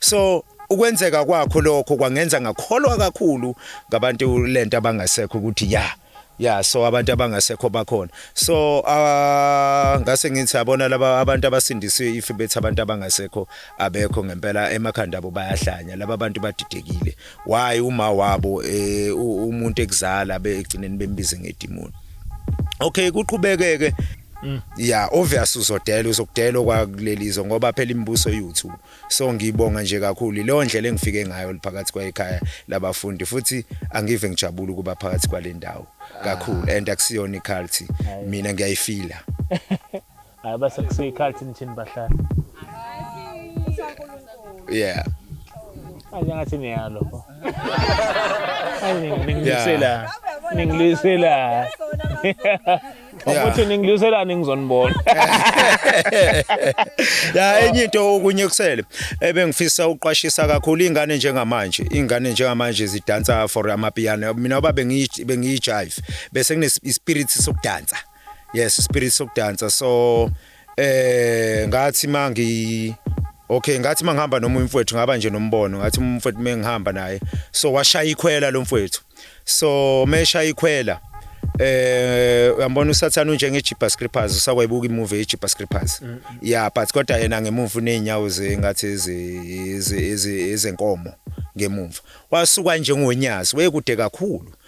so ukwenzeka kwakho lokho kwangenza ngakholwa kakhulu ngabantu lento abangasekho ukuthi ya ya so abantu abangasekho bakhona so uh, ngase ngithi abona laba abantu abasindisiwe if bethi abantu abangasekho abekho ngempela emakhanda abo bayahlanya laba bantu badidekile why uma wabo eh, umuntu ekuzala begcineni bembize ngedimoni okay kuqhubekeke Mm. Yeah obvious uzodela uzokudela kwakulelizo ngoba phela imibuso YouTube so ngibonga nje kakhulu leyo ndlela engifike ngayo liphakathi kwayikhaya labafundi futhi angive ngijabula ukuba phakathi kwalendawo kakhulu ah. and akusiyona iculty mina ngiyayifila Hayi base kusekhathi nithini bahlali. Yeah. Hayi ngathi niyalo. Hayi ningilwisela. Ningilwisela. Ukuthi ningilwisela ningizonibona. Ya enye into okunye kusele ebengifisa uqwashisa kakhulu ingane njengamanje. Ingane njengamanje zidansa for amapiano. Mina baba bengiyi bengiyi jive bese kune spirit sokudansa. yes spirit sokudansa so eh ngathi mangi Okay ngathi mangihamba noma umfowethu ngaba nje nombono ngathi umfowethu mengihamba naye so washaya ikhwela lo mfowethu so mesha ikhwela eh uyambona usathana unje ngeJipa Scrippers usakwayibuka imovie yeJipa Scrippers mm, mm. yeah but kodwa yena ngemuva unenyawo zengathi ezi ezenkomo ngemuva wasuka njengonyazi wekude kakhulu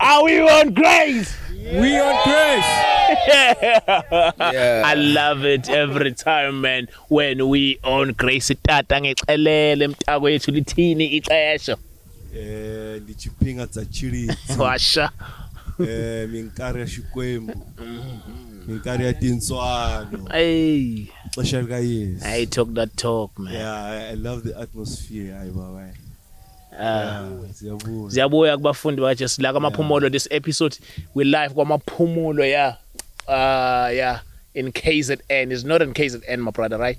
Are we on grace? We on grace. yeah. I love it every time man when we on grace tata ngexelele mtako yethu lithini ixesha. Eh ndichipinga tsa chili. Washa. Eh minkari ya Xikwembu. Minkari ya tintswalo. Hey. Xesha lika Yesu. I talk that talk man. Yeah, I, I love the atmosphere. Hayi baba. Siyabuya. Siyabuya kubafundi bakaJesu la kwamaphumulo this episode we live kwamaphumulo yeah. Uh yeah in KZN is not in KZN my brother right?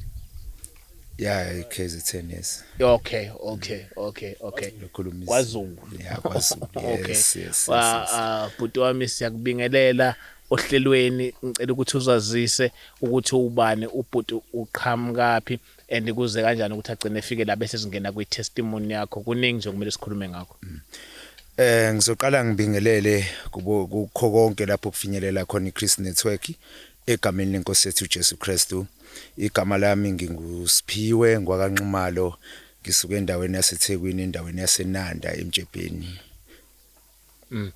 Yeah, KZN yes. Okay, okay, okay, okay. Lokhulumisa. KwaZulu. Yeah, KwaZulu. okay. Yes, yes. Wa yes, yes. uh, bhuti wami siyakubingelela ohlelweni ngicela ukuthi uzazise ukuthi ubani ubhuti uqhamukaphi and kuze kanjani ukuthi agcine efike la bese singena kwi testimony yakho kuningi nje kumele sikhulume ngakho mm. Eh ngizoqala ngibingelele kubo kukho konke lapho kufinyelela khona iChris Network egameni lenkosi yethu Jesu Kristu igama lami ngingusiphiwe ngwakanxumalo ngisuke endaweni yaseThekwini endaweni yaseNanda eMjebheni Mm.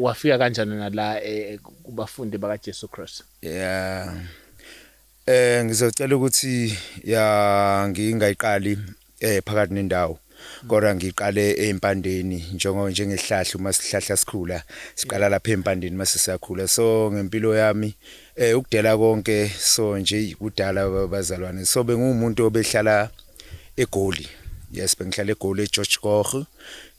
Wafika kanjani nala eh, kubafundi bakaJesu Christ? Yeah. Eh ngizocela ukuthi ya ngingayiqali eh phakathi nendawo kodwa ngiqale empandeni njengo njengehlahla uma sihlahla sikhula siqala lapha empandeni mase siyakhula so ngempilo yami eh ukudela konke so nje kudala bazalwane so bengumuntu obehlala egoli yes bengihlala egoli eGeorge Koch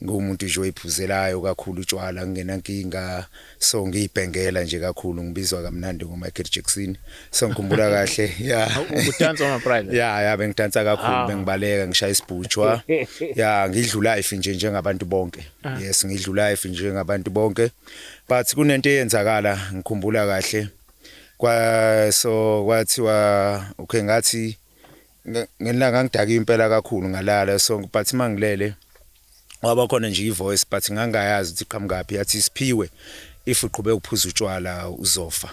ngumuntu nje oyiphuzelayo kakhulu utshwala ngingenankinga so ngiyibhengela nje kakhulu ngibizwa kamnandi ngoMichael Jackson so ngikhumbula kahle yeah udansa ama private yeah yeah bengidansa kakhulu ah. bengibaleka ngishaya isibhutshwa yeah ngidlula life nje njengabantu bonke ah. yes ngidlula life njengabantu bonke but kunento eyenzakala ngikhumbula kahle kwa so kwathiwa okay ngathi Ngelanga ngangidake impela kakhulu ngalala so but mangilele waba khona nje ivoice but ngangayazi ukuthi qhamukaphi yathi siphiwe if uqhube ukuphuza utshwala uzofa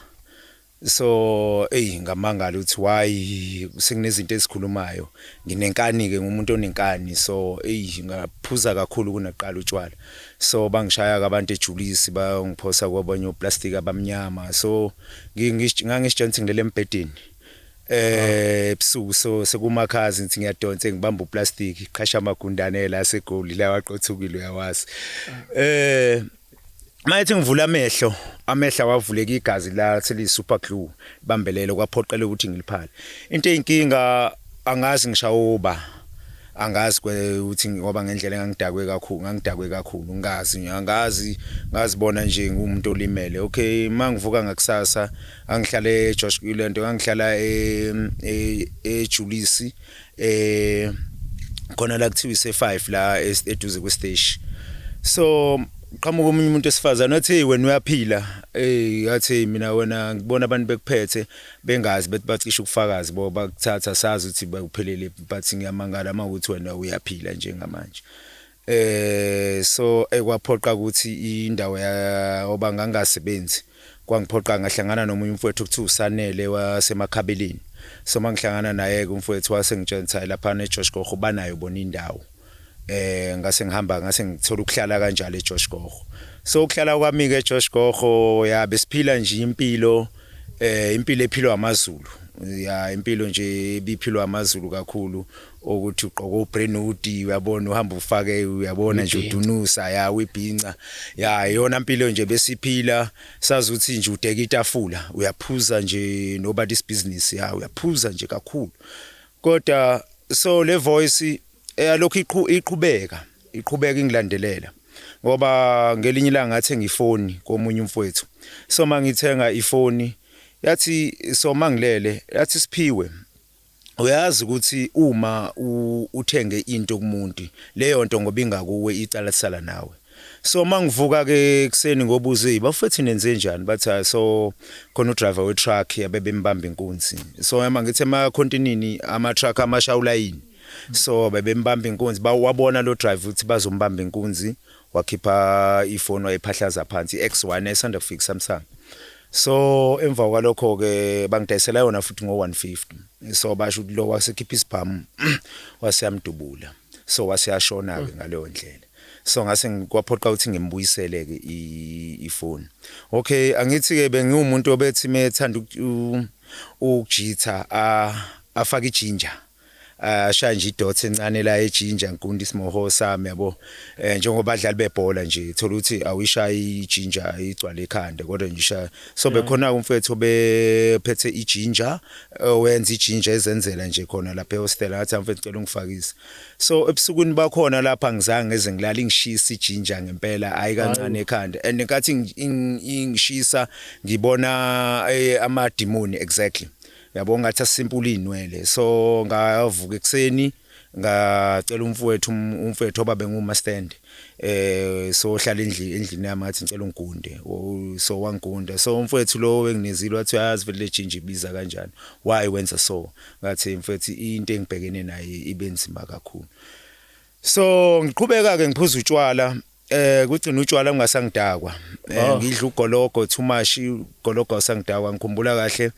so eyi ngamangala ukuthi why sekunezinto ezikhulumayo nginenkani ke ngumuntu onenkani so eyi ngaphuza kakhulu kunaqala utshwala so bangishaya ke abantu ejulisi bangiphosa kwabanye oplastic abamnyama so ngangisitshenthi ngilele embhedeni eh ebusuku so sekumakhazi ngithi ngiyadonsa ngibamba uplastic qhasha amagundane la segoli la waqothukile uyawazi eh Mayethi ngivula amehlo, amehla wavuleka igazi la seli super glue bambelelo kwaphoqela ukuthi ngiliphale. Into eyinkinga angazi ngishawoba. Angazi ukuthi ngoba ngendlela engangidakwe kakhulu, ngangidakwe kakhulu, ngazi, angazi ngazibona nje ngumuntu olimele. Okay, mangivuka ngakusasa angihlala eJosh kulento angihlala eJulisi e, e, eh khona la kuthiwa ise5 la eduze kwesteshi so qhamuka omunye umuntu esifazana wathi hey wena uyaphila hey yathi mina wena ngibona abantu bekuphethe bengazi bethi bacisha ukufakazi bo bakuthatha sazi ukuthi bakuphelele but ngiyamangala uma ukuthi wena uyaphila njengamanje Eh so ekwaphoqa ukuthi indawo ya oba ngangasebenzi kwangiphoqa ngahlangana nomunye umfowethu ukuthi usanele wasemakhabeleni so mangihlangana naye ke umfowethu wase ngitshentsa lapha ne Josh Gogo banayo bona indawo eh ngase ngihamba ngase ngithola ukuhlala kanjalo e Josh Gogo so ukuhlala kwami ke Josh Gogo ya besiphila nje impilo eh impilo ephilwa amaZulu ya impilo nje ibiphilwa amaZulu kakhulu ukuthi ugqoka ubrenudi uyabona uhamba ufake uyabona nje udunusa ya wibhinca ya yona impilo nje besiphila sazi ukuthi nje udeka itafula uyaphuza nje nobody's business ya uyaphuza nje kakhulu kodwa so le voice eyalokhu iqhubeka iqhubeka ingilandelela ngoba ngelinye ilanga ngathenga ifoni komunye umfowethu so mangithenga ifoni yathi so mangilele yathi siphiwe Uyazi ukuthi uma uthenge into kumuntu leyo nto ngoba ingakuwe icala lisala nawe. So mangivuka-ke ekuseni ngobuza eyi bafethu nenzenjani? Bathi hhayi so khona u-driver we-truck abebembamba inkunzi. So yama ngithi emakhontinini ama-truck amasha ulayini. So bebembamba inkunzi, bawabona lo driver ukuthi bazombamba inkunzi, wakhipha ifoni wayiphahlaza phansi i-X1 esanda kufika iSamsung so emva kwalokho ke bangidayisela yona futhi ngo-150 so basho ukuthi lo wasekhipha isibhamu waseyamdubula so waseyashona ke mm. ngaleyo ndlela so ngase kwaphoqa ukuthi ngimbuyisele ke ifoni okay angithi ke bengiwumuntu obethi methanda ukujitha afake ijinja Ah, ashaya nje idot encane la ejinja nkunti isimoho sami yabo eh, njengoba badlali bebhola nje thola ukuthi awuyishaya ijinja igcwale ekhanda kodwa nje ishaya so bekhona umfethu obephethe ijinja owenza ijinja ezenzela nje khona lapha ehostela ngathi mfethu ngicela ungifakise so ebusukwini bakhona lapha ngizange ngeze ngilala ingishisa ijinja ngempela hayi kancane ekhanda and nkathi ing- ing- ingishisa ngibona eh, amadimoni exactly yabo ngathi asimpula izinwele so ngavuka ekseni ngacela umfowethu um, umfowethu obabe nguma stand eh so hlala endlini endlini yami ngathi ngicela ungigunde so wangigunda so umfowethu lo wenginezile wathi uyazi vele lejinja ibiza kanjani why wenza so ngathi mfowethu into engibhekene naye ibe nzima kakhulu so ngiqhubeka ke ngiphuza utshwala Eh kugcina utshwala ungasangidakwa. Eh ah. ngidla ugologo too much ugologo usangidakwa ngikhumbula kahle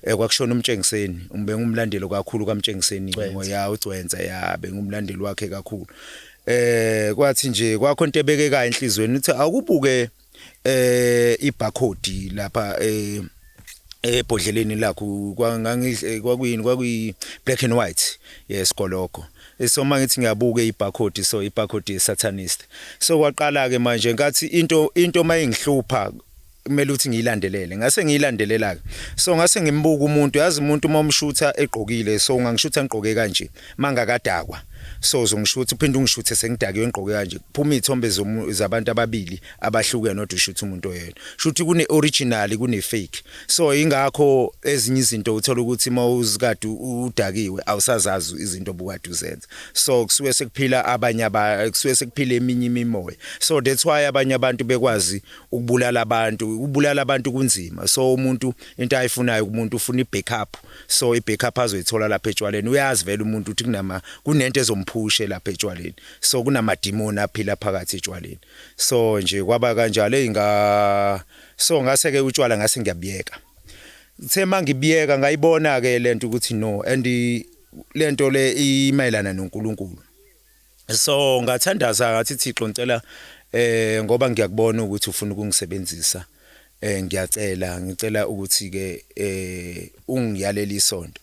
eh kwakushona umtshengiseni bengumlandeli kakhulu kamtshengiseni ngoya ugcwensa ya bengumlandeli wakhe kakhulu. Eh kwathi nje kwakho into ebekeka enhlizweni uthi awukubuke eh ibarcode lapha eh ebhodleleni lakho kwangangidle kwakuyini kwakuyi black and white yes koloko so mangithi ngiyabuka ibarcode so ibarcode yesatanist so kwaqala ke manje ngathi into into mayingihlupha kumele ukuthi ngiyilandelele ngase ngiyilandelela ke so ngase ngimbuka umuntu yazi umuntu uma umshutha egqokile so ngangishutha ngigqoke kanje mangakadakwa soze ungishuthe uphinde ungishuthe sengidakiwe ngigqoke kanje kuphuma izithombe zabantu ababili abahlukene odwa ushuthe umuntu oyedwa shuthi kune original kune fake so ingakho ezinye izinto uthola ukuthi mawuzikade udakiwe awusazazi izinto obukade uzenza so kusuke sekuphila abanye aba kusuke sekuphila eminye imimoya so that's why abanye abantu bekwazi ukubulala abantu ukubulala abantu kunzima so umuntu into ayifunayo kumuntu ufuna ibackup so i back up azoyithola lapha etshwaleni uyazi vele umuntu ukuthi kunama kunento ezomphushe lapha etshwaleni so kunamadimoni aphila phakathi etshwaleni so nje kwaba kanjalo inga so ngase ke utshwala ngase ngiyabiyeka uthe mangibiyeka ngayibona ke lento ukuthi no and lento le imayelana noNkulunkulu so ngathandaza ngathi Thixo ngicela eh ngoba ngiyakubona ukuthi ufuna ukungisebenzisa eh ngiyacela ngicela ukuthi ke eh ungiyalele isonto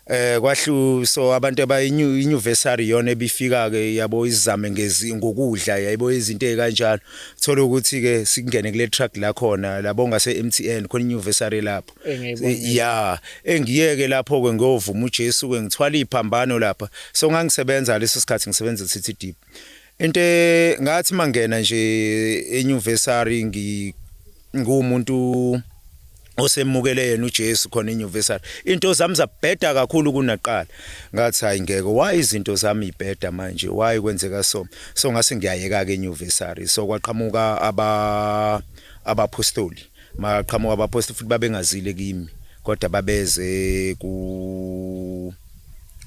eh kwahlu so abantu abayinyuvesary yona ebifika ke yabo izame ngezi ngokudla yayibo izinto ezikanjalo thola ukuthi ke sikungene kule truck la khona labo ngase MTN khona inyuvesary lapho ya engiyeke lapho ke ngovuma uJesu ke ngithwala iphambano lapha so ngangisebenza leso sikhathi ngisebenza City Deep into e, ngathi mangena nje euniversity ngi ngumuntu osemukele yena uJesu khona euniversity into zami zabheda kakhulu kunaqala ngathi hayi ngeke why izinto zami ibheda manje why kwenzeka so so ngase ngiyayeka ke euniversity so kwaqhamuka aba abapostoli Maqhamuka abaphostoli futhi babengazile kimi, kodwa babeze ku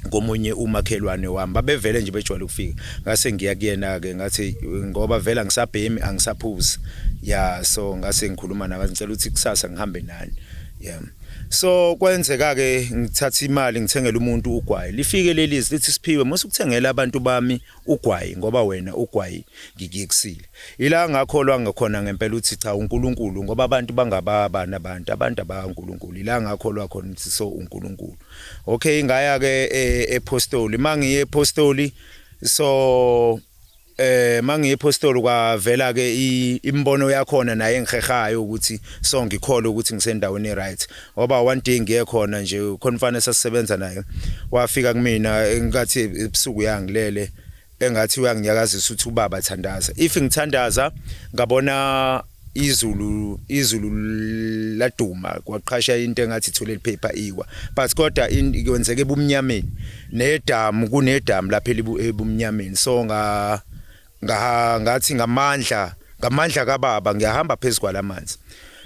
komunye umakhelwane wami babevele nje bejwayele ukufika ngase ngiya kuyena ke ngathi ngoba vela ngisabhemi angisaphuzi ya so ngase ngikhuluma naye ngicela ukuthi kusasa ngihambe nani yeah so kwenzeka ke ngithatha imali ngithengela umuntu ugwayi lifike leli lithi siphiwe musukuthengela abantu bami Ugwayi ngoba wena ugwayi ngikuyekisile. Ila ngakholwa ngakhona ngempela ukuthi cha uNkulunkulu ngoba abantu bangababani abantu, abantu abaNkulunkulu. Ila ngakholwa khona ukuthi so uNkulunkulu. Okay ngaya ke eh, ephostoli. Mangiye ephostoli so eh mangiye ephostoli kwavela ke imbono yakhona naye engihehayo ukuthi so ngikholwe ukuthi ngisendaweni right. Ngoba one day ngiye khona nje khona umfana esasisebenza naye wafika kumina engathi ebusuku yangilele engathi uyanginyakazisa ukuthi ubaba thandaza if ngithandaza ngabona izulu izulu laduma kwaqhasha into engathi ithule liphepha iwa but kodwa kwenzeke ebumnyameni nedamu kunedamu lapha ebumnyameni so nga nga ngathi ngamandla ngamandla kababa ngiyahamba phezulu kwalamanzi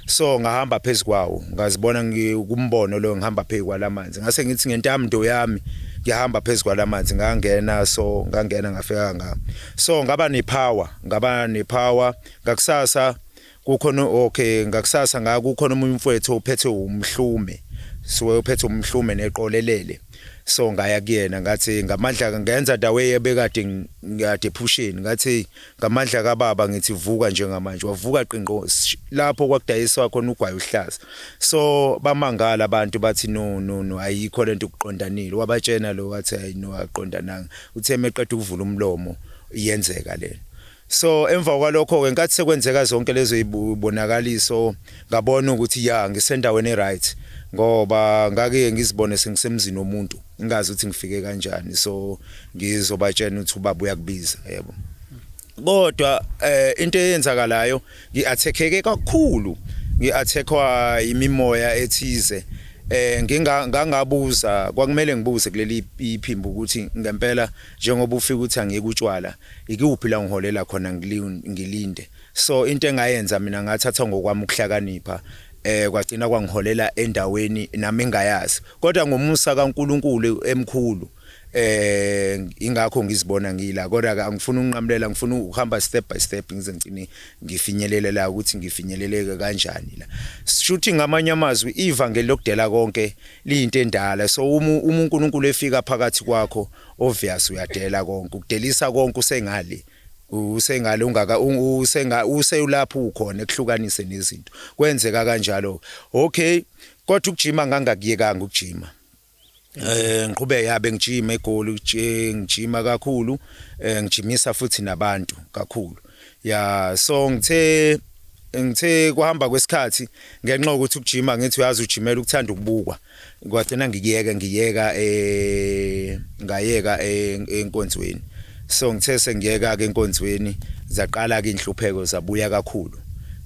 so ngahamba phezulu kwawo ngazibona ngikumbono lo ngihamba phezulu kwalamanzi ngase ngithi ngentamdo yami ngihamba phezulu kwalamanzi ngangena so ngangena ngafika nga so ngaba nepower ngaba nepower ngakusasa Kukhona okay ngakusasa nga kukhona omunye umfowethu ophethe umhlume siwe uphethe umhlume neqolelele so ngaya kuyena ngathi ngamandla ngenza dawe yebekade ngade phusheni ngathi ngamandla kababa ngithi vuka njengamanje wavuka qinqo lapho kwakudayiswa khona ugwayi uhlaza so bamangala abantu bathi no no no ayikho lento ukuqondanile wabatshena lo wathi ayino aqondananga uthe meqeda ukuvula umlomo iyenzeka lento So emva kwalokho ke nkathi sekwenzeka zonke lezo ibonakaliso ngabona ukuthi ya ngisendaweni eright ngoba ngake ngizibone sengisemzini womuntu ngingazi ukuthi ngifike kanjani so ngizobatshena ukuthi ubaba uyakubiza yebo kodwa eh into eyenzakalayo ngiathekeke kakhulu ngiathekwa imimoya ethize eh nginga ngangabuza kwakumele ngibuze kuleli iphimbo ukuthi ngempela njengoba ufika uthi angiyekutshwala Ikuphi la ngiholela khona ngilinde. So into engayenza mina ngathatha ngokwami ukuhlakanipha eh kwagcina kwangiholela endaweni nami engayazi. Kodwa ngomusa kaNkulunkulu emkhulu eh ingakho ngizibona ngila kodwa ke angifuni ukunqamulela ngifuna ukuhamba step by step ngize ngicine ngifinyelele la ukuthi ngifinyeleleke kanjani la shuthi ngamanye amazwi ivangeli lokudela konke liyinto endala so uma uNkulunkulu efika phakathi kwakho Obvious uyadela konke ukudelisa konke usengale usengale ungaka usenga useyulapho ukhona ekuhlukanise nezinto kwenzeka kanjalo okay kodwa ukujima ngangakuyekanga ukujima Eh ngiqhubeke yabe ngijima egoli ngijima kakhulu eh, ngijimisa futhi nabantu kakhulu ya so ngithe ngithe kuhamba kwesikhathi ngenxa ukuthi ukujima ngithi uyazi ujimela ukuthanda ukubukwa kwagcina ngikuyeka ngiyeka eh ngayeka eh, enkonzweni so ngithe sengiyeka ke enkonzweni zaqala ke inhlupheko zabuya kakhulu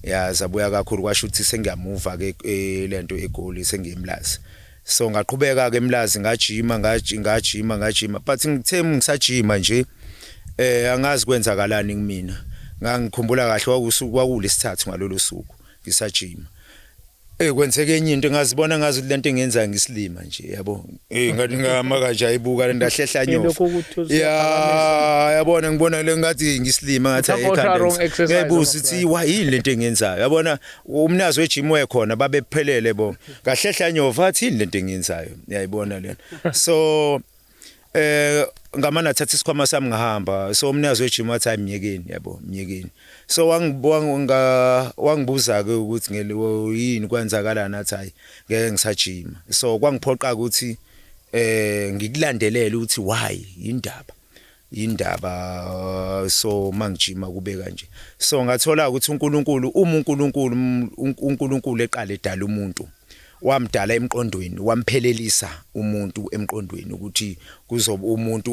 ya zabuya kakhulu kwasho ukuthi sengiyamuva ke eh, lento egoli sengiyimlazi so ngaqhubeka ke emlazi ngajima ngajima ngajima but ngithe ngisajima nje eh angazi kwenzakalani kumina ngangikhumbula kahle kwakusuku kwakulesithathu ngalolu suku ngisajima Eh kwenzeke enye into ngazibona ngazi ukuthi lento engenza ngisilima nje yabo. Eh ngathi ngama kanje ayibuka lento ahlehla nyofu. Ya yabona ngibona le ngathi ngisilima ngathi ekhanda. Ngibuza ukuthi why yini lento engenzayo. Yabona umnazi wegym wekhona babephelele bo. Kahlehla nyofu athi yini lento engenzayo. Uyayibona lento. So eh ngamane athatha isikhwama sami ngahamba so umnikazi wejim wathi hayi myekeni yabo myekeni so wangibuza-ke ukuthi yini kwenzakalani athi hayi ngeke ngisajima so kwangiphoqa ukuthi eh ngikulandelele ukuthi why yindaba yindaba so mangijima kube kanje so ngathola ukuthi uNkulunkulu uma uNkulunkulu uNkulunkulu eqale edala umuntu wamdala emqondweni wamphelelisa umuntu emqondweni ukuthi kuzoba umuntu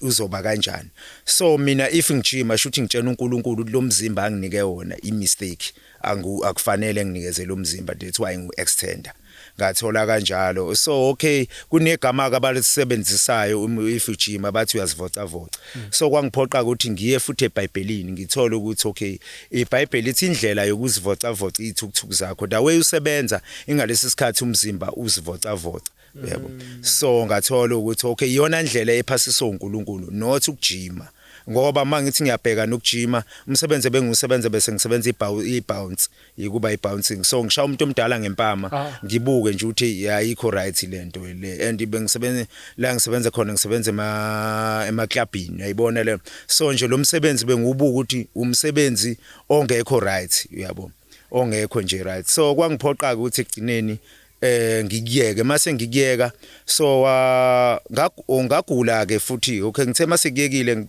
uzoba kanjani so mina if ngijima shuthi ngitshena uNkulunkulu lomzimba anginike wona i mistake Angu akufanele nginikezele umzimba that's why ngu extender ngathola kanjalo so okay kunegama ke abalisebenzisayo um, if ujima bathi uyazivocavoca mm. so kwangiphoqa ukuthi ngiye futhi ebhayibhelini ngithole ukuthi okay ibhayibheli ithi indlela yokuzivocavoca ithukuthuku zakho the way usebenza ingalesi sikhathi umzimba uzivocavoca yebo mm. so ngathola ukuthi okay iyona ndlela ephasiswa uNkulunkulu not ukujima ngoba uma ngithi ngiyabheka nokujima umsebenzi ebengisebenza bese ngisebenza i-bounce yikuba i-bouncing so ngishaya umuntu omdala ngempama ah. ngibuke nje ukuthi ayikho right lento le and bengisebenza la ngisebenza khona ngisebenza ema emaklabhini uyayibona le so nje lo msebenzi bengiwubuka ukuthi umsebenzi ongekho right uyabo ongekho nje right so kwangiphoqa ukuthi ekugcineni eh ngikuyeke mase ngikuyeka so wa oh, ngagula ke futhi okay ngithe mase kuyekile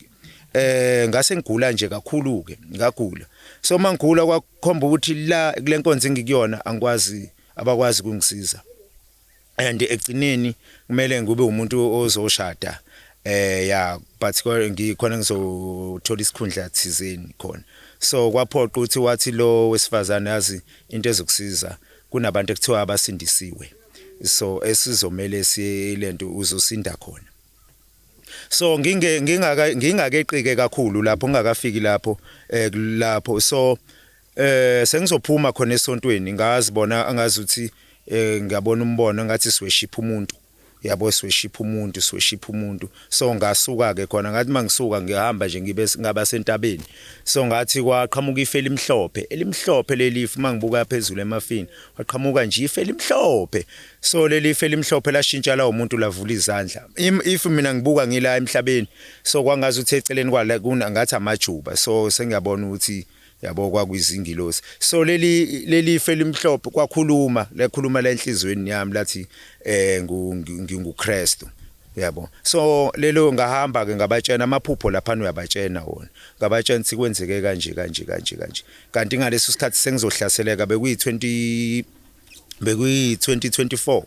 eh ngase ngigula nje kakhulu ke ngagula so mangigula kwakhomba ukuthi la kulenkonzo engikuyona angikwazi abakwazi kungisiza and egcineni kumele ngube umuntu ozoshada eh ya but ngikhona ngizothola isikhundla thizeni khona so kwaphoqa ukuthi wathi lo wesifazane yazi into ezokusiza Kunabantu ekuthiwa abasindisiwe so esizomele silento uzosinda khona so nginge ngingaka ngingakeqike kakhulu lapho ngingakafiki lapho eh lapho so eh sengizophuma khona esontweni ngazi bona angazi ukuthi eh ngiyabona umbono ngathi siweshipha umuntu Uyabo siweshipha umuntu siweshipha umuntu so ngasuka ke khona ngathi mangisuka ngihamba nje ngibe ngaba sentabeni so ngathi kwaqhamuka ife elimhlophe elimhlophe leli ife mangibuka phezulu emafini waqhamuka nje ife elimhlophe so leli ife elimhlophe lashintsha lawo muntu lavula izandla if mina ngibuka ngila emhlabeni so kwangazi ukuthi eceleni kwala kuna ngathi amajuba so sengiyabona ukuthi yabo kwakuyizingilosi so leli leli ife elimhlophe kwakhuluma lakhuluma la enhlizweni yami lathi eh nginguKristu yabo so lelo ngahamba ke ngabatshena amaphupho lapha uyabatshena wona ngabatshena ukuthi kwenzeke kanje kanje kanje kanje kanti ngaleso sikhathi sengizohlaseleka bekuyi 20 bekuyi 2024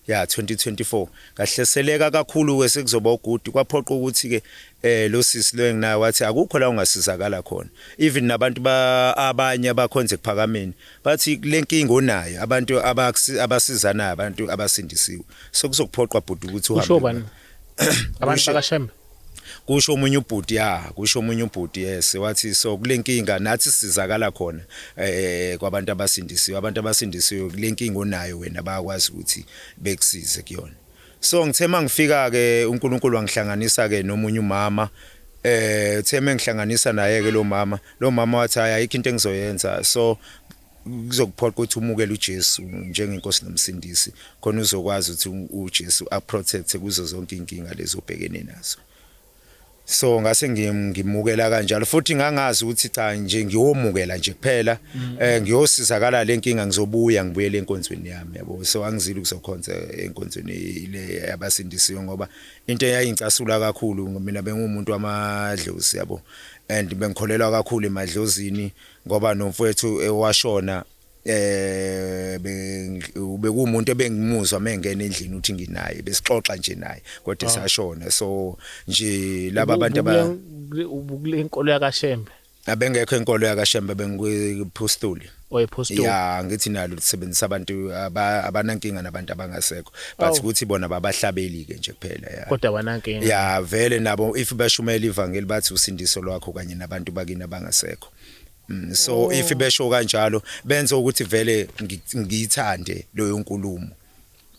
ya 2024 ngahleseleka kakhulu ke sekuzoba uguti kwaphoqa ukuthi ke eh lo sisi lo enginaye wathi akukho la ungasizakala khona even nabantu ba abanye abakhonze kuphakameni bathi lenkinga onayo abantu abasizana abantu abasindisiwe so kuzokuphoqa bhuti ukuthi uhambe abantu bakashembe kusho omunye ubhuti ya kusho omunye ubhuti yes wathi so kulenkinga nathi sizakala khona eh, eh kwabantu abasindisiwe abantu abasindisiwe kulenkinga onayo wena bayakwazi ukuthi bekusize kuyona so ngithe mangifika ke uNkulunkulu wangihlanganisa ke nomunye umama eh uthe mengihlanganisa naye ke lo mama lo mama wathi hayi ayikho into engizoyenza so kuzokuphoqa ukuthi umukele uJesu njengenkosi nomsindisi khona uzokwazi ukuthi uJesu aprotect kuzo zonke inkinga lezobhekene nazo so ngase ngimukela kanjalo futhi ngangazi ukuthi cha nje ngiyomukela nje kuphela mm. eh ngiyosizakala lenkinga ngizobuya ngibuyele enkonzweni yami yabo so angizili kuzokhonza enkonzweni ile yabasindisiwe ngoba into eyayingicasula kakhulu mina bengumuntu wamadlozi yabo and bengikholelwa kakhulu emadlozini ngoba nomfwethu ewashona eh bekumuntu ebengimuzwa mengena endlini uthi nginaye besixoxa nje naye kodwa ah. esashona so nje laba abantu aba ubukule inkolo yakashembe abengekho inkolo yakashembe bengiphostoli oyephostoli ya ngithi nalo lisebenzisa abantu abanankinga nabantu abangasekho but Awu. ukuthi bona babahlabeli ke nje kuphela ya kodwa wanankinga ya vele nabo if bashumela ivangeli bathi usindiso lwakho kanye nabantu bakini abangasekho Mm, so Oh. if besho kanjalo benze ukuthi vele ngi- ngiyithande leyo nkulumo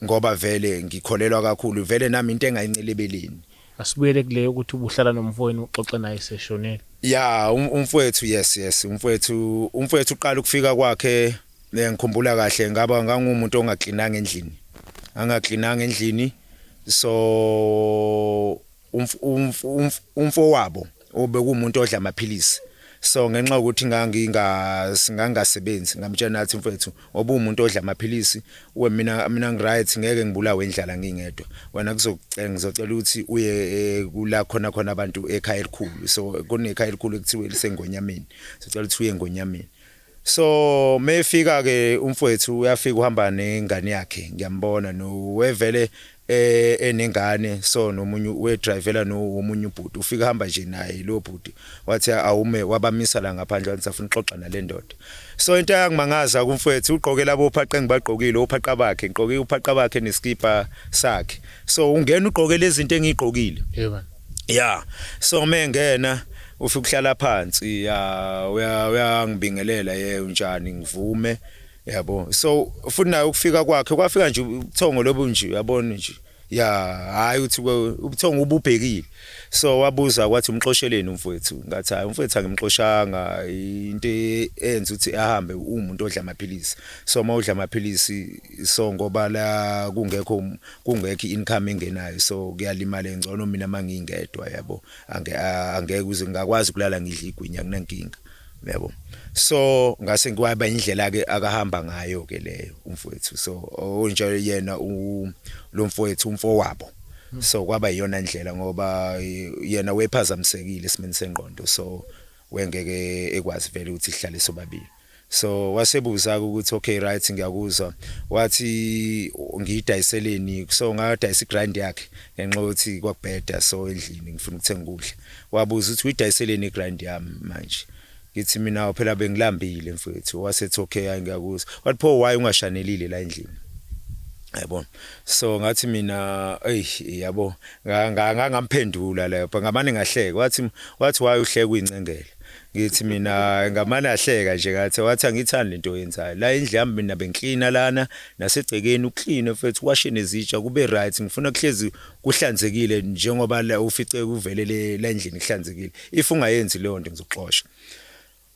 ngoba vele ngikholelwa kakhulu vele nami into engayincilebeleni asibuyele kuleyo ukuthi ubuhlala nomfowenu uxoxe naye seshonile ya um- umfowethu yes yes umfowethu umfowethu uqala ukufika kwakhe Eh, ngikhumbula kahle ngaba ngangumuntu ongaklinanga endlini angaklinanga endlini so umfowabo obekumuntu odla amaphilisi so ngenxa ukuthi ngangingasingangasebenzi ngamtshela nathi mfethu obumuntu odla amaphilisi we mina mina ngiright ngeke ngibulawe indlala ngingedwa wena kuzokucela ngizocela ukuthi uye eh, kula khona khona abantu ekhaya elikhulu so kunekhaya elikhulu ekuthiwa lisengonyameni sicela ukuthi uye engonyameni So mefika ke umfwethu uyafika uhamba nengane yakhe ngiyambona no wevele eh enengane so nomunye we drivela no omunye ubhuti ufika hamba nje naye lo bhuti wathi awume wabamisa la ngaphandle wathi safuna uxoxa nalendoda so into yangimangaza kumfwethu ugqoke labo phaqe ngibagqokile uphaqa bakhe ngigqoke uphaqa bakhe neskipa sakhe so ungena ugqoke lezi zinto engigqokile yebo ya so mengena ufike ukuhlala phansi ya uyangibingelela ye unjani ngivume yabo so futhi naye ukufika kwakhe kwafika nje ubuthongo lobu nje uyabona nje ya hayi uthi ubuthongo ububhekile so wabuza kwathi umxosheleni umfowethu ngathi hayi umfowethu angimxoshanga into enza ukuthi ahambe umuntu odla amaphilisi so uma udla amaphilisi so ngoba la kungekho kungekho income engenayo so kuyalimala engcono mina mangingedwa yabo ange angeke uze ngakwazi kulala ngidla igwinya kunankinga yabo so ngase ngiwaba indlela ke akahamba ngayo ke leyo umfowethu so onjalo yena lo mfowethu umfowabo so kwaba iyona ndlela ngoba yena wephazamisekile esimeni sengqondo so we ngeke ekwazi vele ukuthi sihlale sobabili so wasebuza-ke ukuthi okay right ngiyakuzwa wathi ngiyidayiseleni so ngadayisa igrind yakhe ngenxa yokuthi kwakubheda so endlini ngifuna ukuthenga ukudla wabuza ukuthi uyidayiseleni igrind yami manje ngithi mina phela bengilambile mfethu wasethi okay hayi ngiyakuzwa wathi pho why ungashanelile la endlini yayibona so ngathi mina ey yabo ngangamphendula leyo but ngamane ngahleka wathi wathi why uhleka uyincengela ngithi mina ngamane ahleka nje ngathi wathi angithandi lento yenzayo la indlu yami mina bengiklina lana nasegcekeni ukline mfethu washe nezitsha kube right ngifuna kuhlezi kuhlanzekile njengoba ufice kuvelele la endlini kuhlanzekile if ungayenzi leyo nto ngizoxosha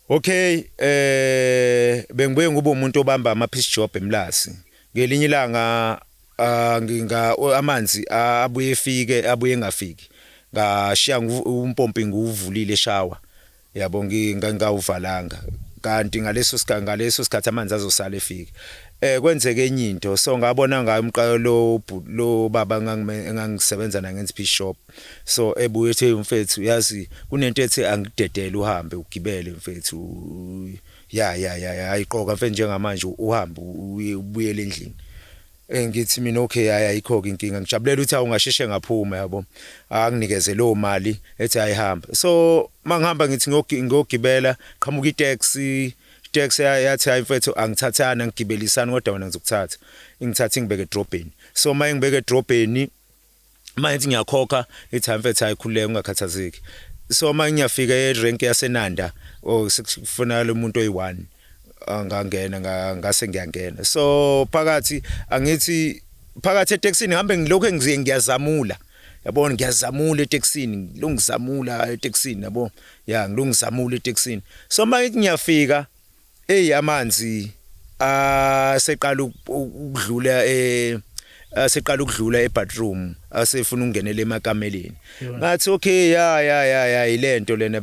Ok eh bengibuye ngube umuntu obamba ama piece job eMlazi. Ngelinye ilanga ah, nginga amanzi ah, abuye efike abuye engafiki. Ngashiya ngu- umpompi nguvulile shower. Yabo nginga ngawuvalanga. Kanti ngaleso sikhathi ngaleso sikhathi amanzi azosala efika. Eh kwenzeke enye into so ngabona ngayo umqalo lo bhu- lo baba engangime- engangisebenza naye ngenza piece shop. so ebuye ethe mfethu yazi kunento ethi angidedele uhambe ugibele mfethu ya ya ya ayiqoka mfethu njengamanje uhambe ubuyele endlini eh, ngithi mina okay hayi ayikho ke inkinga ngijabulela ukuthi awungasheshe ngaphuma yabo anginikeze lo mali ethi ayihamba so mangihamba ngithi ngiyogibela qhamuka itaxi taxi yathi hayi mfethu angithathana ngigibelisana kodwa wena ngizokuthatha ingithatha ingibeke edrobheni so mayengibeke edrobheni uma ngithi ngiyakhokha ithi hamfethu hayi khululeka ungakhathazeki so uma ngiyafika erenki yasenanda or oh, sekufunakala umuntu oyi-one angangena ngase ngiyangena so phakathi angithi phakathi etekisini ngihambe ngilokhu engiziye ngiyazamula yabona ngiyazamula etekisini ngilungizamula etekisini yabo ya ngilungizamula etekisini so uma ngiyafika Eyi amanzi aseqala ukudlula e aseqala ukudlula ebathroom asefuna ukungenela emakameleni ngathi okay ya ya ya ya ilento lena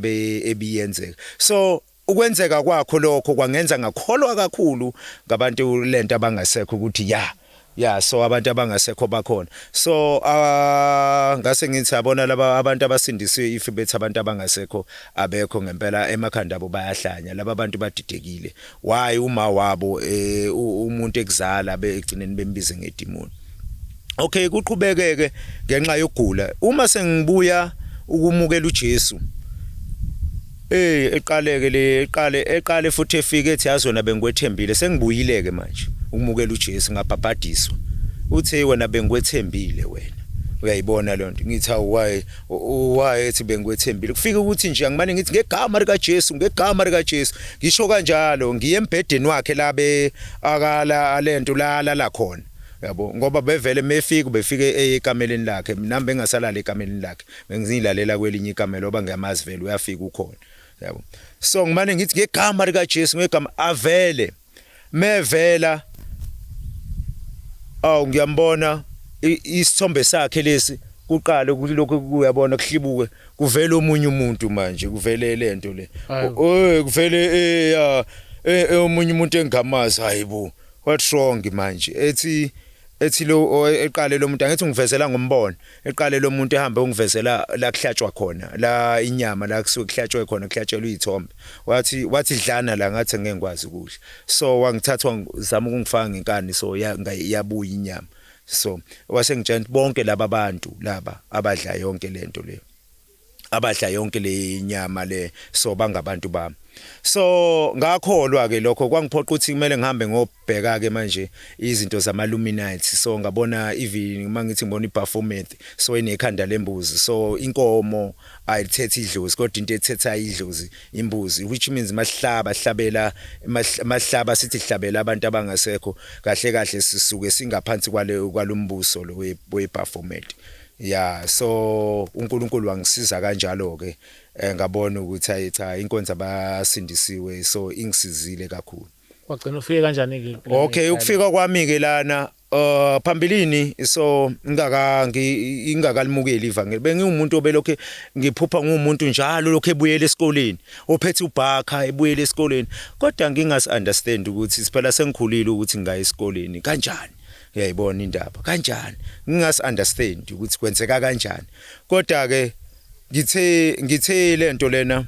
ebiyenzeka so ukwenzeka kwakho lokho kwangenza ngakholwa kakhulu ngabantu lento abangasekho ukuthi ya Yeah so abantu abangasekho bakhona. So uh, ngase ngithi yabona laba abantu abasindisiwe if bethi abantu abangasekho abekho ngempela emakhanda abo bayahlanya. Laba abantu badidekile. Why uma wabo eh, umuntu ekuzala begcineni bembize ngedimoni. Okay kuqhubekeke ngenxa yokugula. Uma sengibuya ukumukela uJesu Ey eqaleke le eqale eqale futhi efike ethi yazi wena bengikwethembile sengibuyileke manje ukumukela uJesu ngabhabhadiswa uthe wena bengikwethembile wena uyayibona leyo nto ngithi awu why why ethi bengikwethembile kufike ukuthi nje angimane ngithi ngegama lika Jesu ngegama lika Jesu ngisho kanjalo ngiye embhedeni wakhe labe akala alento lala la khona yabo ngoba bevele mefika befike ekameleni lakhe mina bengasalala ekameleni lakhe bengizilalela kwelinye ikamelo oba ngiyamazi vele uyafika ukhona yabo so ngimane ngithi ngegama lika Jesu ngegama avele mevela awu ngiyambona isithombe sakhe lesi kuqale ukuthi lokho kuyabona kuhlibuke kuvele omunye umuntu manje kuvele lento le eh kuvele eh, ya eh, eh, omunye umuntu engamazi hayibo what's wrong manje ethi ethi lo eqale lo muntu angithi ngivezela ngombono Eqale lo muntu ehambe ungivezela la kuhlatshwa khona la inyama la kusuke kuhlatshwe khona kuhlatshelwa izithombe wathi wathi dlana la ngathi ngeke ngikwazi ukudla so wangithatha wangizama ukungifaka ngenkani so yabuya inyama so wasengitshela bonke laba bantu laba abadla yonke lento leyo abadla yonke le nyama le so bangabantu bami so ngakholwa ke lokho kwangiphoqa ukuthi kumele ngihambe ngobheka ke manje izinto zama luminati so ngabona even uma ngithi ngibona iperformance so inekhanda lembuzi so inkomo ayithethe idlozi kodwa into ethetha idlozi imbuzi which means mahlaba hlabela mahlaba sithi hlabela abantu abangasekho kahle kahle sisuke singaphansi kwale kwalombuso lo we performance Yeah so uNkulunkulu wangisiza kanjalo ke eh, ngabona ukuthi ayi cha inkonzo abasindisiwe so ingisizile kakhulu. Wagcina ufike kanjani ke? Okay ukufika kwami ke lana Uh phambilini so ngingaka ngingakalimukeli ivangeli bengiwumuntu obelokhe ngiphupha ngumuntu njalo lokho ebuyele esikoleni ophethe ubhakha ebuyele esikoleni kodwa ngingas understand ukuthi siphela sengikhulile ukuthi ngingaya esikoleni kanjani uyayibona indaba kanjani ngingasi understand ukuthi kwenzeka kanjani kodwa ke ngithe ngithe lento lena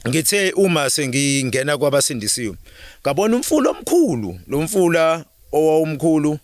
ngithe uma sengingena kwabasindisiwe ngabona umfula omkhulu lo mfula owawumkhulu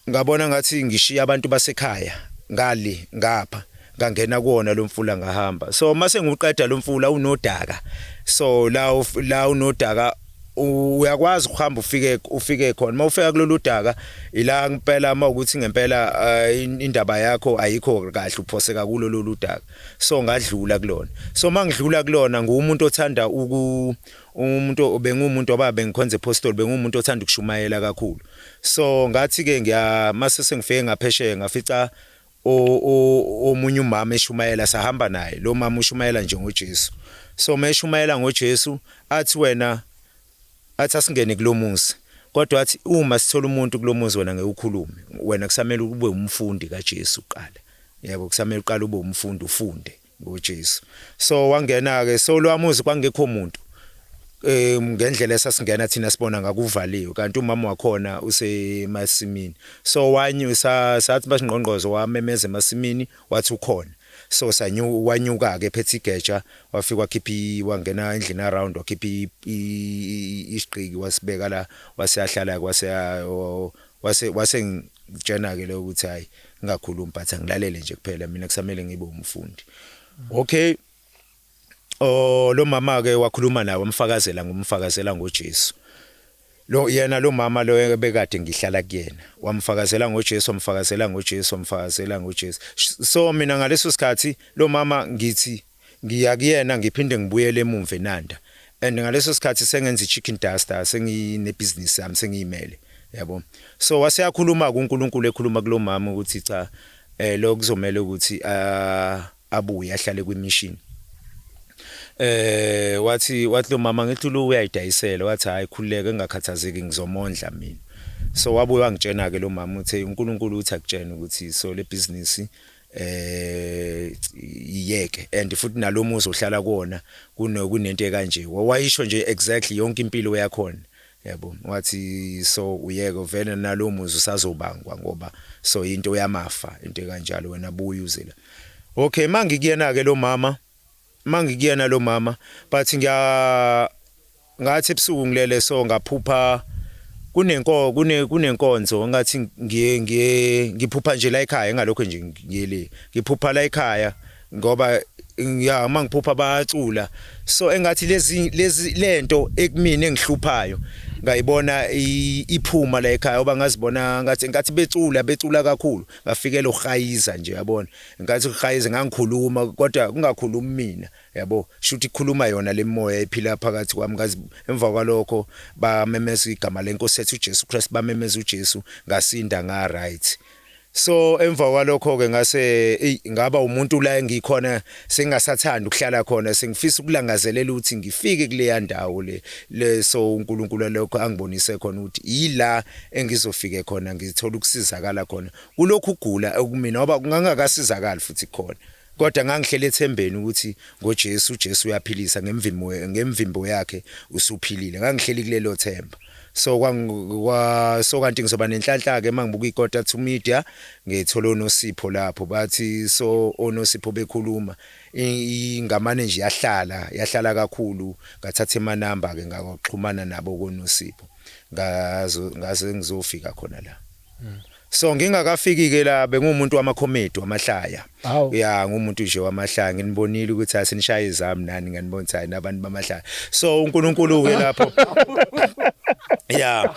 ngabona ngathi ngishiya abantu basekhaya ngale ngapha ngangena kuwona lo mfula ngahamba so mase ngiwuqeda lo mfula unodaka so la la unodaka uyakwazi ukuhamba ufike ufike khona uma ufika kulolu daka ila ngempela uma ukuthi ngempela eh, indaba yakho ayikho kahle uphoseka kulo lolu daka so ngadlula kulona so mangidlula kulona ngumuntu othanda uku umuntu bengumuntu oba bengikhonza apostle bengumuntu othanda ukushumayela kakhulu so ngathi ke ngiya mase sengifike ngaphesheya ngafica o, o, omunye umama eshumayela sahamba naye lo mama ushumayela njengoJesu so meshumayela ngoJesu athi wena athi asingene kulomuzi kodwa athi uma sithola umuntu kulomuzi wena ngeke ukhulume wena kusamele ube umfundi kaJesu uqala yebo kusamele uqale ube umfundi ufunde NguJesu. So wangena-ke, so lowa muzi kwakungekho muntu um ngendlela esasingena thina sibona ngakuvaliwe kanti umama wakhona usemasimini so wanyu sathi basingqongqozo wamemeza emasimini wathi ukhona so sanyu wanyuka ke phethe igeja wafika wakhipha wangena endlini around wakhipha isiqiki wasibeka la waseyahlala kwase Wase wase ngitshena ke leyo ukuthi hayi ngingakhulumi but angilalele nje kuphela mina kusamele ngibe umfundi. Okay. Oh lo mama ke wakhuluma naye wamfakazela ngomfakazela ngoJesu. Lo yena lo mama lo ebekade ngihlala kuyena wamfakazela ngoJesu wamfakazela ngoJesu wamfakazela ngoJesu. So mina ngaleso sikhathi lo mama ngithi Ngiya kuyena ngiphinde ngibuyele emumva eNanda and ngaleso sikhathi sengenza iChicken Duster senginebhizinisi yami sengiyimele yabo. So waseyakhuluma-ke uNkulunkulu ekhuluma kulomama ukuthi cha eh lo kuzomele ukuthi abuye ahlale kwimission. Eh wathi wathi lo mama ngithi lo uyayidayisela wathi hayi khululeke engakhathazeki ngizomondla mina. So wabuye wangitshena ke lo mama uthe uNkulunkulu uthi akutshena ukuthi so le business eh yeke and futhi nalomuzi ohlala kuona kunento ekanje wayisho nje exactly yonke impilo yakhona yabo wathi so uyeke vele nalomuzi usazobangwa ngoba so into yamafa into ekanjalo wena buya uze la okay mangikuyena ke lo mama mangikuyena lo mama but ngiya ngathi ebusuku ngilele so ngaphupha kunenko kune kunenkonzo ngathi ngiye ngiye ngiphupha nje la ekhaya ngalokho nje ngiyele ngiphupha la ekhaya ngoba ya mangiphupha bacula so engathi lezi lezi lento ekumina engihluphayo ngayibona iphuma la ekhaya oba ngazibona ngathi ngathi becula becula kakhulu ngafikela uhayiza nje yabona Ngathi uGayizi ngangikhuluma kodwa kungakhulumi mina yabo shuthi khuluma yona lemoya ephila phakathi kwami ngazi emva kwalokho bamemeza igama lenkosi ethu uJesu Christ bamemeza uJesu ngasinda nga right so emva kwalokho ke ngase ngaba umuntu la engikhona sengasathanda ukuhlala khona sengifisa ukulangazelela ukuthi ngifike kuleya ndawo le leso uNkulunkulu lokho angibonise khona ukuthi yila engizofike khona ngithola ukusizakala khona Kulokhu kugula ekumina ngoba ngangakasizakali futhi khona kodwa ngangihleli ethembeni ukuthi ngoJesu uJesu uyaphilisa ngemvimbo ngemvimbo yakhe usuphilile ngangihleli kulelo themba so kwa, kwa so kanti ngizoba nenhlanhla ke mangibuka ikota to media ngithola onosipho lapho bathi so onosipho bekhuluma ingamane nje yahlala yahlala kakhulu ngathatha emanamba ke ngaxhumana nabo konosipho ngazo ngaze ngizofika khona la So ngingakafiki ke la bengumuntu wama comedy wamahlaya. Aw. Ya ngumuntu nje wamahlaya nginibonile ukuthi asinishaye izami nani nganibona ukuthi hayi nabantu bamahlaya. So uNkulunkulu ke lapho. Ya.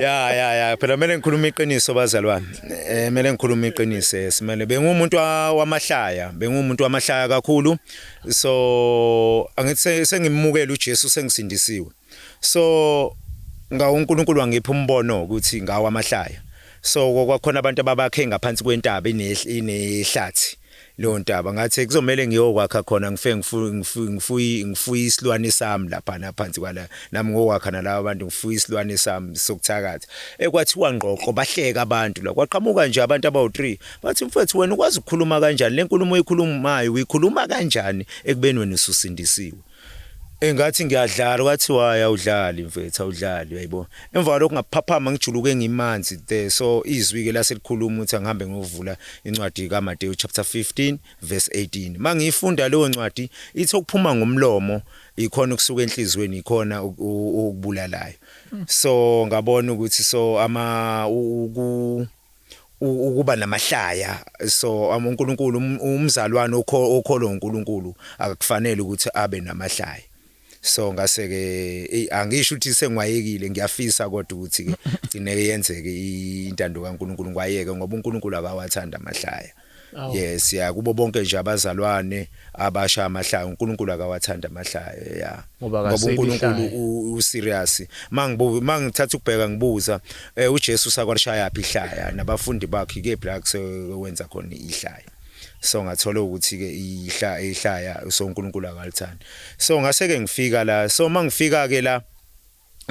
Ya ya ya phela kumele ngikhulume iqiniso bazalwane. Eh kumele ngikhulume iqiniso eh, simele bengumuntu wa- wamahlaya, bengumuntu wamahlaya kakhulu. So angithi se- sengimukela uJesu sengisindisiwe. so ngawo uNkulunkulu wangipha umbono ukuthi ngawo amahlaya so kwakhona abantu ababakhe ngaphansi kwentaba inehlathi leyo ntaba ngathi kuzomele ngiyokwakha khona ngife ngifuyi ngifuyi isilwane sami lapha naphansi kwala nami ngokwakha nalabo abantu ngifuyi isilwane sami sokuthakatha ekwathiwa ngqoqo bahleka abantu la kwaqhamuka nje abantu abawu-3 bathi mfethu wena ukwazi ukukhuluma kanjani le nkulumo oyikhulumayo uyikhuluma kanjani ekubeni wena ususindisiwe Eh ngathi ngiyadlala kwathi waye awudlali mfethu awudlali uyayibo. Emva kwalokho ngaphaphama ngijuluke ngimanzi there so izwi ke laselikhuluma ukuthi angihambe ngovula incwadi kaMateyu chapter 15 verse 18. Mangiyifunda leyo ncwadi ithi okuphuma ngomlomo ikhona ukusuka enhlizweni ikhona ukubulalayo. So ngabona ukuthi so ama uku ukuba namahlaya so um, uNkulunkulu um, umzalwane okholwa uNkulunkulu akufanele ukuthi abe namahlaya so ngase ke angisho ukuthi sengwayekile ngiyafisa kodwa ukuthi ke gcine yenzeke intando kaNkuluNkulu ngwayeke ngoba uNkuluNkulu akawathanda amahlaya Aw. yes ya kubo bonke nje abazalwane abasha amahlaya uNkulunkulu akawathanda amahlaya ya Ngoba ngoba akaseli uNkulunkulu ihlaya. u- u serious mangibu mangithatha ukubheka ngibuza eh, uJesu sakwalishaya phi ihlaya nabafundi bakhe ke black wenza khona ihlaya so ngathola ukuthi ke ihlaya ihlaya so uNkulunkulu akalithandi so ngase ke ngifika la so mangifika ke la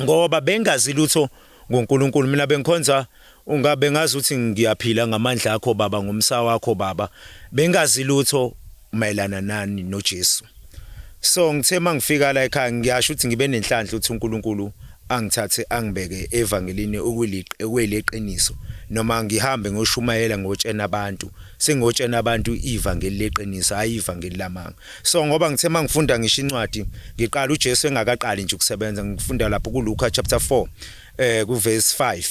ngoba bengazi lutho ngoNkulunkulu mina bengikhonza unga bengazi ukuthi ngiyaphila ngamandla akho baba ngomsa wakho baba bengazi lutho mayelana nani noJesu so ngithe mangifika la ekhaya ngiyasho ukuthi ngibe nenhlanhla ukuthi uNkulunkulu angithathe angibeke evangelini okuyileqiniso noma ngihambe ngoshumayela ngotshena abantu sengotshena abantu ivangeli leqiniso hayi ivangeli lamanga so ngoba ngithe mangifunda ngisho incwadi ngiqala uJesu engakaqali nje ukusebenza ngifunda lapho kuLuka chapter 4 eh kuverse 5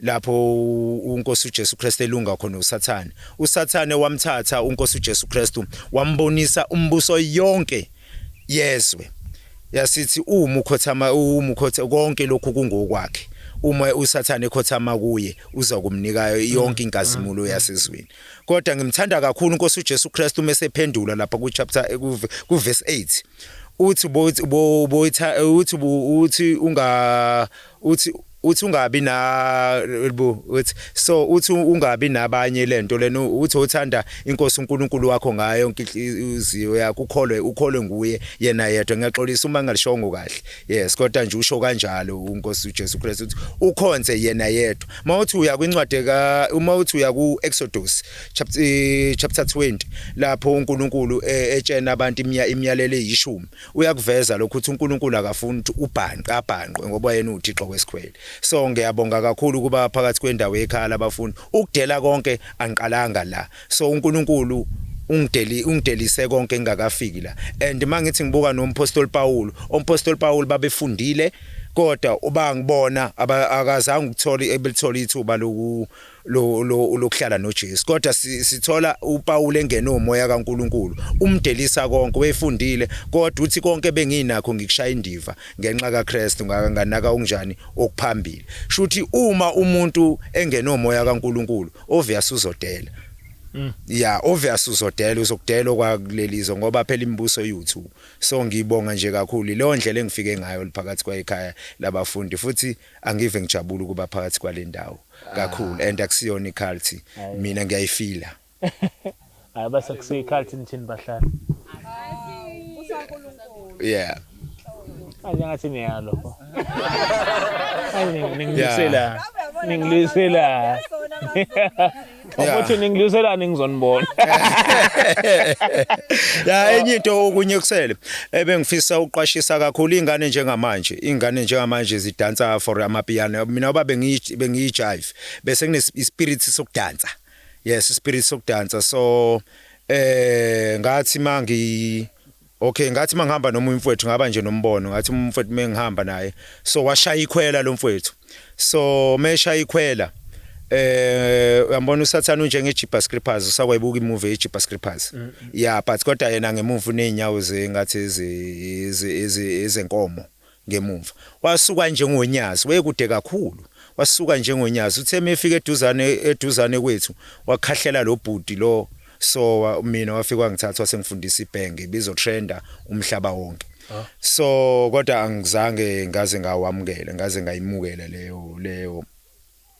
lapho uNkosi uJesu Kristu elunga khona uSathane uSathane wamthatha uNkosi uJesu Kristu wambonisa umbuso yonke yezwe yasithi uma ukhothama uma ukhotha konke lokhu kungokwakhe uma usathane ekhothama kuye uza kumnika yonke inkazimulo mm, mm, yasezweni Kodwa ngimthanda kakhulu uNkosi uJesu Kristu uma esephendula lapha ku chapter ku verse 8. Uthi bo bo bo uthi uthi unga uthi uthi ungabi na uthi so uthi ungabi nabanye lento lena uthi uthanda inkosi uNkulunkulu wakho ngayo inhliziyo yakho ukholwe ukholwe nguye yena yedwa ngiyaxolisa uma ngalishongo kahle Yes kodwa nje usho kanjalo uNkosi uJesu Kristu uthi ukhonze yena yedwa. Mawuthi uya kwincwadi ka uma uthi uya kuExodus chapter eh, chapter 20 lapho uNkulunkulu eh, etshena abantu imiya imiyalelo eyishumi uyakuveza lokho ukuthi uNkulunkulu akafuni ukuthi ubhanqe abhanqwe ngoba yena uThixo kwesikhwele. So ngiyabonga kakhulu kuba phakathi kwendawo yekhaya labafundi ukudela konke angiqalanga la So uNkulunkulu ungideli ungidelise konke ngingakafiki la and mangithi ngibuka nompostoli Paul ompostoli Paul babefundile kodwa uba ngibona akazange ukuthola ebelithola ithuba loku lokuhlala noJesu kodwa sithola uPaul engene umoya kaNkuluNkulu umdelisa konke wefundile kodwa uthi konke benginakho ngikushaya indiva ngenxa kaKristu ngakanganaka unjani okuphambili shuthi uma umuntu engene umoya kaNkuluNkulu obvious uzodela Mm. Yeah, obvious uzodela uzokudela okwakulelizo ngoba phela imibuso yethu. So ngibonga nje kakhulu leyo ndlela engifike ngayo liphakathi kwayikhaya labafundi futhi angive ngijabula ukuba phakathi kwalendawo kakhulu ah. and akusiyona iculty mina ngiyayifila. Hayi base kusikhathi nithini bahlali. Yeah. Manje ngathi niyalo. Hayi ningidlisela. Ningidlisela. Ukuthi ningidlisela ningizonibona. Ya enye into okunye kusele ebengifisa uqwashisa kakhulu ingane njengamanje. Ingane njengamanje zidansa for amapiano. Mina baba bengiyi bengiyi jive bese kune spirit sokudansa. Yes, spirit sokudansa. So eh ngathi mangi Okay ngathi mangihamba noma umfwethu ngaba nje nombono ngathi umfwethu mengihamba naye so washaya ikhwela lo mfwethu so meshaya ikhwela eh uyambona usathana unje ngeJipa Scrippers usakwayibuka imovie yeJipa Scrippers mm, mm. yeah but kodwa yena ngemuva unenyawo zengathi izenkomo ngemumva. Wasuka njengonyazi, wayekude kakhulu. Wasuka njengonyazi. Uthe uma efika eduzane, eduzane kwethu, wakhahlela lo bhuti lo, so wa, mina wafika wangithatha wasengifundisa ibhenge, ibizotrenda umhlaba wonke. So kodwa angizange ngaze ngawamukela, ngaze ngayimukela leyo, leyo.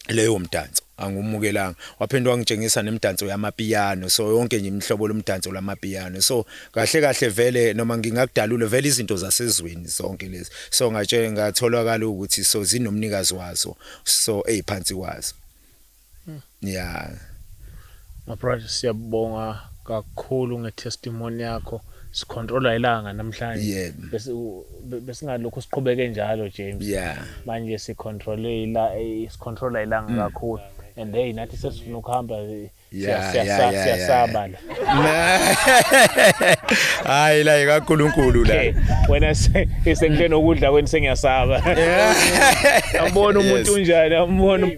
leyo mdanso angumukelanga waphinde wangitshengisa nemdanso yamapiyano so yonke nje imihlobo lomdanso lamapiyano so kahle kahle vele noma ngingakudalula vele izinto zasezweni zonke lezi so ngatshe ngatholakala ukuthi so zinomnikazi wazo so eziphansi kwazo hmm. yeah My brother siyabonga kakhulu nge testimony yakho sicontrola ilanga namhlanje yeah. bese besingalokho siqhubeke njalo James yeah. manje sicontrole ila eh, sicontrola ilanga mm. kakhulu and hey nathi sesifuna ukuhamba eh, siyasaba la hayi la ikaNkuluNkulu la wena isenkuthe nokudla kweni sengiyasaba ambona umuntu unjani ambona